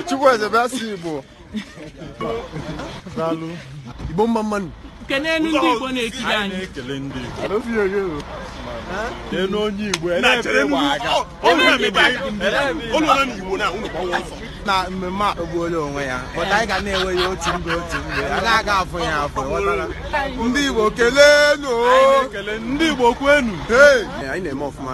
Chukwueze bịa si Igbo daalụ Igbo mma mma nụ kelee ndị Igbo na-ekiri anyị na-ekele ndị Igbo kelee onye Igbo na mmemme a ogbuola onwe ya but anyị ga na-enwe ya otu mgbe otu mgbe a na-aga afọ ya afọ ndị Igbo keleenụ ndị Igbo kwenu anyị na-eme ọfụma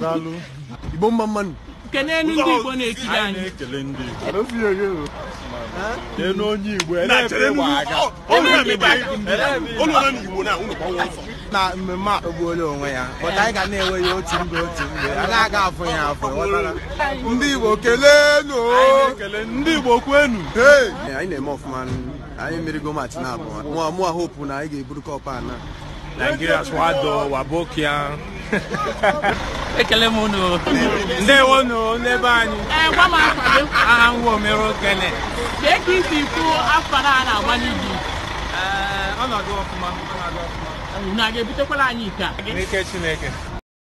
daalụ igbo mma mma nụ kelee ndị igbo na-ekiri anyị na-ekele ndị igbo n'elu onye igbo na mmemme a ogbuola onwe ya but anyị ga na-enwe ya otu mgbe otu mgbe a na-aga afọ ya afọ ndị igbo keleenụ ndị igbo kwenu anyị na-eme ọfụma anyị merigo match na abụọ mụwa hope na anyị ga-eburu cup a na Nigeria swado wabokia ekele m unu ndewo unu n'ebe anyị ee gwa m afa gị aha m omere okene kee ka i si kwu AFCON a a na-agba n'Egypt ọ na-aga ọfụma ọ na-aga ọfụma unu a ga-ebutekwala anyị iko a n'ike Chineke